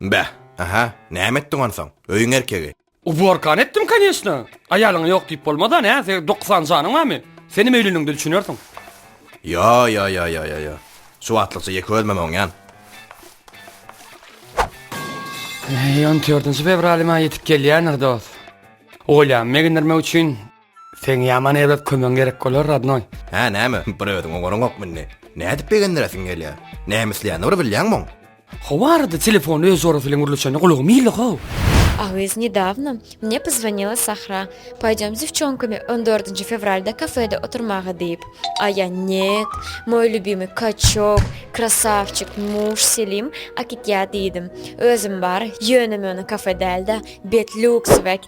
Beh, aha, näme etdiň onsoň? Öýüň erkegi. Uborkany etdim, konýeçna. Aýalyňa ýok diýip bolmaz-a, nä, se, dokuzsany janyň barmy? Senem öýlenende düşünersiň. Ýo-ýo-ýo-ýo-ýo-ýo. Şu wagtlykça ýeke özümem oňýan. Äý, on dördünji fewralyma ýetip gelýändir, dost. Oýlanyp begendirmek üçin. Seň ýaman erbet kömegiň gerek bolar rodnoý. Hä näme, bir özüň oňaryňokmy indi? Nädip begendiresiň gelýär? Näme isleýänini bir bilýäňmi oň? Hawa arada telefony öz jorasy bilen gürleşende gulagymy ildi how. A gyz nedawno mne pozwonila Sahra, poýdem s divçonkami on dördünji fewralda kafede oturmaga diýip. A ýa Net, moj lýubimy kaçok, krasawçik, muž, Selim, akitýa diýdim. Özüm bar, ýöne-möne kafe däl-de, bet lýuksowek.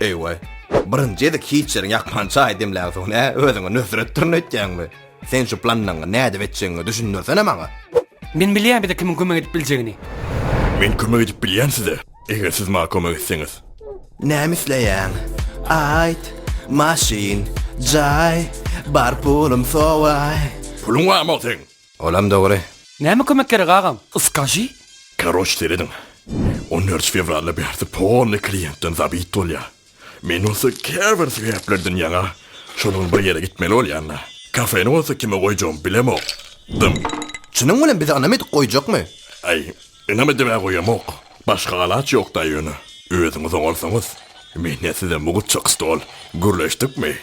Eý-we. Birinji gezek hiç ýeriň ýakman çaý demläňsoň nä, özüňe nösretdirin öýtýäňmi? Sen şu planyňy nädip etjegiňi düşündirsene maňa. Men bilýän bize kimiň kömek edip biljegini. Men kömek edip bilýän size, eger siz maňa kömek etseňiz. Näme isleýäň? Aýt. Maşyn, jaý, bar pulum sowaý. Puluň barmy ol seň? Olam dogry. Näme kömek gerek agam? Skaži? Karoç serediň. On dört fewralda bärsi polny kliýentden zabit bolýa. Men bolsa käbir sebäplerden ýaňa şolaň bir ýere gitmeli bolýanda. Kafeni bolsa kime goýjagym bilemok. Dym. Çynyň bilen biz ynam edip goýjakmy? Aý, ynam edibä goýamok. Başga alaç ýokda ýöne. Özüňiz oňarsaňyz. Mende size mugut çaky stol. Gürleşdikmi?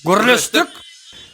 Gürleşdik!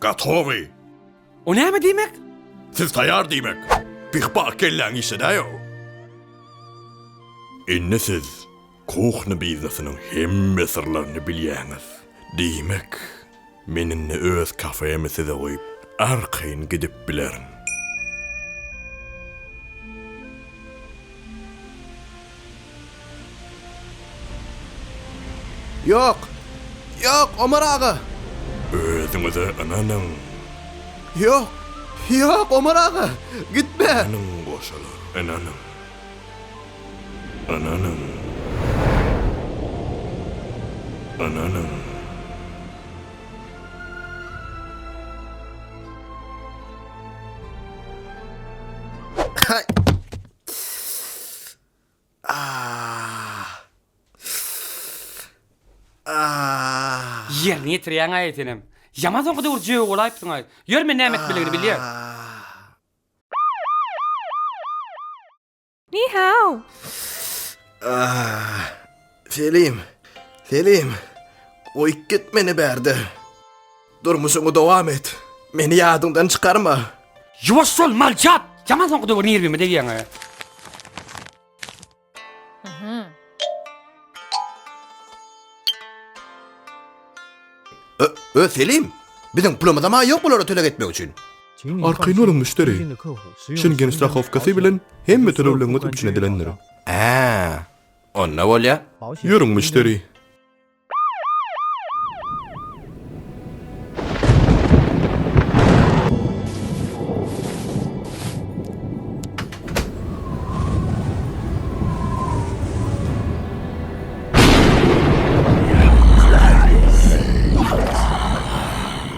Gatowy! O näme diýmek? Siz taýar diýmek. Pih-pah kelläň işledäýow. Indi siz kuhny biznesiniň hemme syrlaryny bilýäňiz. Diýmek, men indi öz kafemi size goýup, arkaýyn gidip bilerin. Ýok! Ýok, Omar aga! Özüňize ynanyň! Ýok! Ýok, Omar aga! Gitme! Ynanyň, goşalar, ynanyň! Ynanyň! Ynanyň! Ýerine ýetirýäň-aý senem. Ýaman soňky döwür jögi bolaýypsyň-aý. Ýör men näme etmeligini bilýän. Ni-hao! Selim! Selim! Goýup git meni bärde! Durmuşyňy dowam et! Meni ýadyňdan çykarma! Ýuwaş bol, malçap! Ýaman soňky döwür nirwime degýäň-ä. Öe, Selim! Biziň pulumyzam-a ýok bulara töleg etmek üçin. Arkaýyn boluň, müşderi! Şengen strahow-kasy bilen hemme tölegleriňiz üpjün edilendir. Ä-ä! Onda bolýa. Ýörüň müşderi.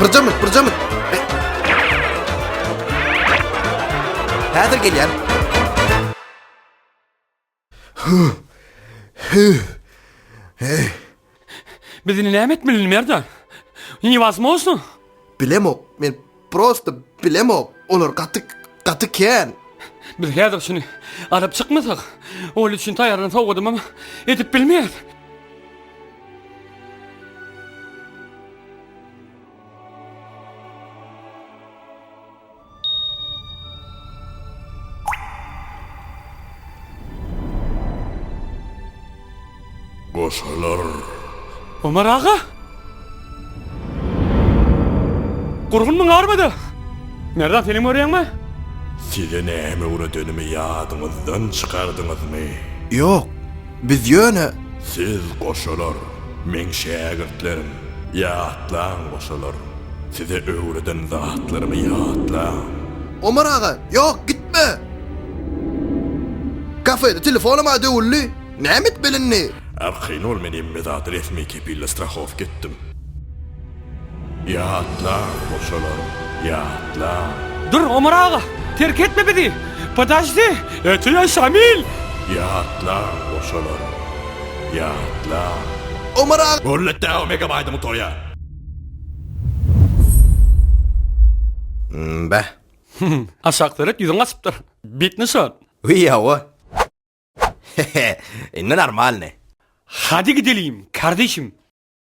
Bırcamı, bırcamı. Hazır geliyorum. Biz indi näme etmelini Merdan? Niwasmosno? Bilemok, men prosta bilemok. Olar gaty gaty kän. Biz häzir şuny alyp çykmasak, ol üçin taýýarlan sowgadymam edip bilmeýäs. Goşalar! Omar aga! Gurgun muňarmydy? Merdan film görýäňmi? Size näme öwredenimi ýadyňyzdan çykardyňyzmy? Ýok, biz ýöne. Siz, goşalar, meň şägirtlerim. Ýatlaň goşalar, size öwreden zatlarymy ýatlaň. Omar aga, ýok, gitme! Kafede telefonam a döwüldi, näme etmeli indi? Arkaýyn bol, men hem Medady resmi kepille strahowka etdim. Ýatlaň goşalar, ýatlaň! Dur, Omar aga, terk etme bizi! Podajdi, ötüýän Şamil! Ýatlaň goşalar, Ýatla. Omar aga. Gurletdäo megabaýdyňy toýa. Mmbeh. Aşak seret ýüzüň gaçypdyr. Bit nyşan. Wiý hawa. Hehe. Indi normalny. Hadi gidelim kardeşim.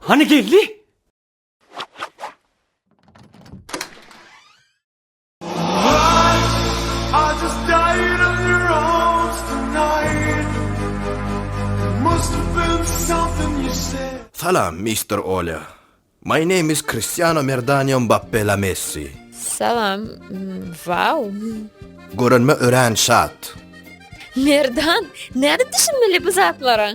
Hany geldi? Salam, Mister Olya. My name is Cristiano Merdanio Mbappe La Messi. Salam. Wow. Görünme örän şat. Merdan, näde düşünmeli bu zatlara?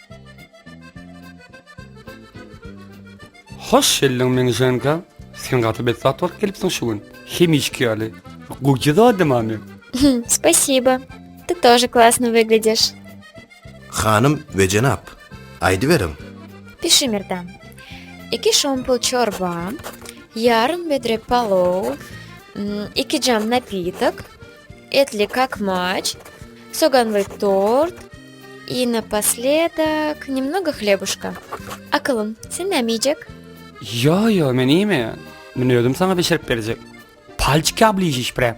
Hoş geldiň Meňijeňka. Sen gaty bet zat alyp gelipsiň şu gün. Hemişki ýaly. Gowy zadymam men. Spasibo. Ty tože klasno wygledýaş. Hanym we jenap, aýdyberiň. Pişimirdan. Iki şompul çorba, ýarym bedre palow, iki jam napitok, Etli kakmaç, soganly tort i napasledak nemnogo hlebuşka. Akylym, sen näme iýjek? Ýo, ýo, men iýmeýän. Men özüm saňa bişirip berjek. Palçiki obližiş prem.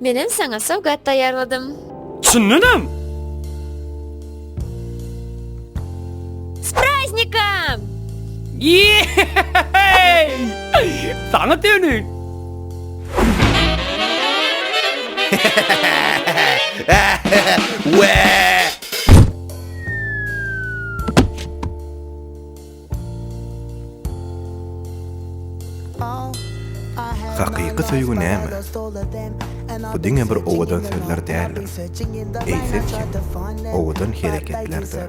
Menem saňa sowgat taýýarladym. Çyndanam! S praznikom! Ýe-he-he-heý! Saňa dönük! He-he-he-he-he! Wee! Hakyky söýgi näme? Bu diňe bir owadan sözler däldir. Eýsem-kem, owadan hereketlerdir.